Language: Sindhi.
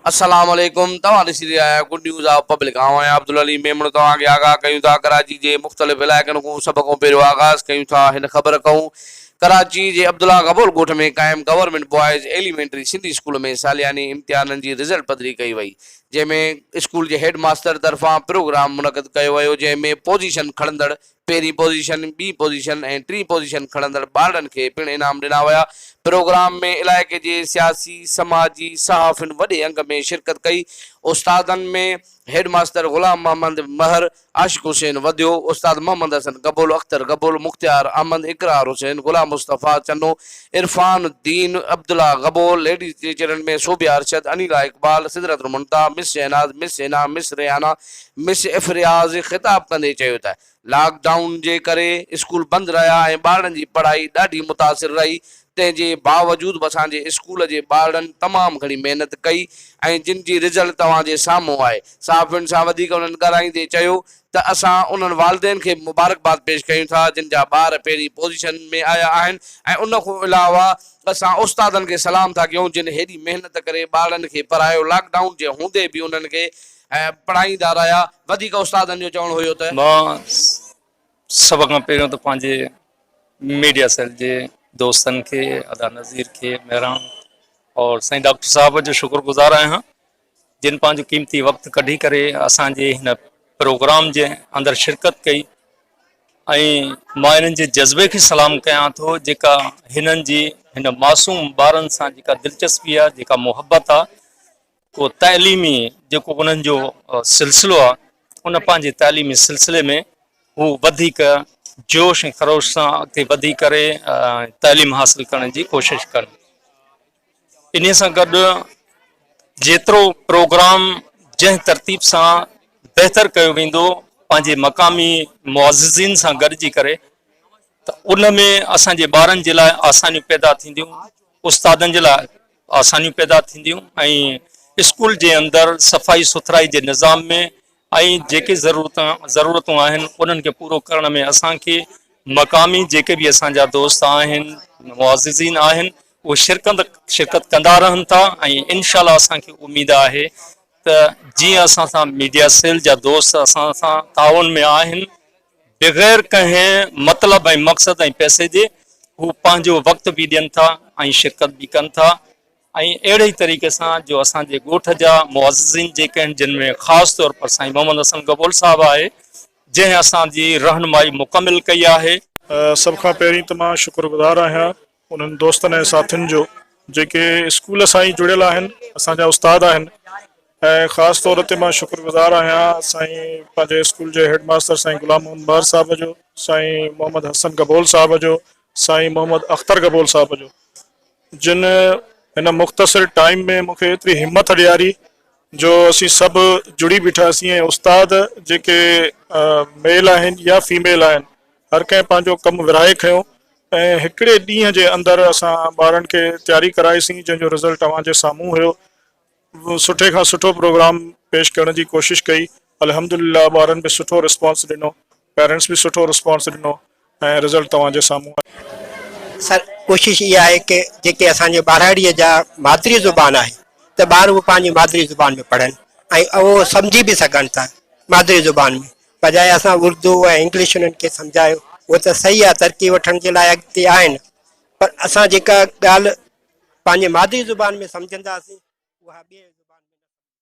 السلام عليڪم توهان ڏسي رهيا آهيو گڊ نيوز آف پبلڪ آئون آهيان عبدالعليم ميمڻ توهان کي آگاهه ڪيون ٿا ڪراچي جي مختلف علائقن کون سڀ کون پهريون آغاز ڪيون ٿا هن خبر کون ڪراچي جي عبدالله غبول ڳوٺ ۾ قائم government boys elementary Sindhi school ۾ سالياني امتحانن جي رزلٽ پڌري ڪئي وئي جنهن ۾ اسڪول جي هيڊ ماستر طرفان پروگرام منعقد ڪيو ويو جنهن ۾ پوزيشن کڻندڙ، پهرين پوزيشن، ٻي پوزيشن ۽ ٽين پوزيشن کڻندڙ ٻارڙن کي پڻ انعام ڏنا ويا. پروگرام ۾ علائقي جي سياسي، سماجي، صحافين وڏي انگ ۾ شرڪت ڪئي. استادن ۾ هيڊ ماستر غلام محمد مهر، عاشق حسين وڌيو، استاد محمد حسن گبول، اختر گبول، مختيار احمد، اقرار حسين، غلام مصطفيٰ چنو، عرفان الدين، عبدالله گبول، ليڊيز جي چيلن ۾ صوبيا ارشد، انيلا اقبال، سدرت المنتهيٰ، مس شهناز، مس حنا، مس ريحانه، مس افرياز خطاب ڪندي چيو ته لاڪ ڊائون جي ڪري اسڪول بند رهيا ۽ ٻارڙن جي پڙهائي ڏاڍي متاثر رهي، تنهن جي باوجود به اسان جي اسڪول جي ٻارڙن تمام گهڻي محنت ڪئي ۽ جن جي رزلٽ توهان جي سامهون آهي. صحافين سان وڌيڪ انهن ڳالهائيندي چيو ته اسان انهن والدين کي به مبارڪباد پيش ڪيون ٿا جن جا ٻار پهرين پوزيشن ۾ آيا آهن ۽ ان کان علاوه اسان استادن کي سلام ٿا ڪيون جن هيڏي محنت ڪري ٻارڙن کي پڙهايو لاڪ ڊائون جي هوندي به انهن کي پڙهائيندا رهيا وڌيڪ استادن جو چوڻ هيو ته. مان سڀ کان پهريون ته پنهنجي ميڊيا سيل جي دوستن کي ادا نظير کي مهراڻ اور سائين ڊاڪٽر صاحب جو شڪر گزار آهيان جن پنهنجو قيمتي وقت ڪڍي ڪري اسان جي هن پروگرام جي اندر شرڪت ڪئي ۽ مان هنن جي جذبي کي سلام ڪيان ٿو جيڪا هنن جي هن معصوم ٻارن سان جيڪا دلچسپي آهي جيڪا محبت آهي ڪو تعليمي جيڪو انهن جو سلسلو آهي ان پنهنجي تعليمي سلسلي ۾ هو وڌيڪ جوش ۽ خروش سان اڳتي وڌي ڪري تعليم حاصل ڪرڻ جي ڪوشش ڪن انهي سان گڏ جيترو پروگرام جنهن ترتيب سان بهتر ڪيو ويندو پنهنجي مقامي معززين سان گڏجي ڪري ته ان ۾ اسان جي ٻارن جي لاء آسانيون پيدا ٿينديون استادن جي لاء آسانيون پيدا ٿينديون ۽ اسڪول جي اندر صفائي سٿرائي جي نظام ۾ ۽ جيڪي ضرورتون ضرورتون آهن انهن کي پورو ڪرڻ ۾ اسان کي مقامي جيڪي به اسان جا دوست آهن معززين آهن اهي شرڪت شرڪت ڪندا رهن ٿا ۽ انشاء الله اسان کي اميد آهي ته جيئن اسان سان ميڊيا سيل جا دوست اسان سان تعاون ۾ آهن بغير ڪنهن مطلب ۽ مقصد ۽ پئسي جي هو پنهنجو وقت به ڏين ٿا ۽ شرڪت به ڪن ٿا ۽ اهڙي ئي طريقي سان جو اسان جي ڳوٺ جا معززين جيڪي آهن جن ۾ خاص طور پر سائين محمد حسن گبول صاحب آهي جنهن اسان جي رهنمائي مڪمل ڪئي آهي. سڀ کان پهرين ته مان شڪرگذار آهيان انهن دوستن ۽ ساٿين جو جيڪي اسڪول سان ئي جڙيل آهن اسان جا استاد آهن ۽ خاص طور تي مان شڪر گذار آهيان سائين پنهنجي اسڪول جي هيڊ ماستر سائين غلام محمد بهر صاحب جو سائين محمد حسن گبول صاحب جو سائين محمد اختر گبول صاحب جو جن هن مختصر ٽائيم ۾ مون کي ايتري همٿ ڏياري جو اسين سڀ جڙي بيٺاسين ۽ استاد جيڪي ميل آهن يا فيميل آهن هر ڪنهن پنهنجو ڪم ورهائي کنيو ۽ هڪڙي ڏينهن جي اندر اسان ٻارن کي تياري ڪرائي سين جنهن جو رزلٽ اوهان جي سامهون هيو سٺي کان سٺو پروگرام پيش ڪرڻ جي ڪوشش ڪئي الحمدلله ٻارن به سٺو رسپانس ڏنو پيرنٽس به سٺو رسپانس ڏنو ۽ رزلٽ توهان جي سامهون آهي. سر ڪوشش اها آهي ڪه جيڪي اسان جي ٻاراڙي جا مادري زبان آهي ته ٻار اهو پنهنجي مادري زبان ۾ پڙهن ۽ اهو سمجهي به سگهن ٿا مادري زبان ۾ بجاء اسان اردو ۽ انگلش انهن کي سمجهايو هو ته صحيح آهي ترقي وٺڻ جي لاء اڳتي آهن پر اسان جيڪا ڳالهه پنهنجي مادري زبان ۾ سمجهنداسين اها ٻي زبان ۾ نه سمجهنداسين.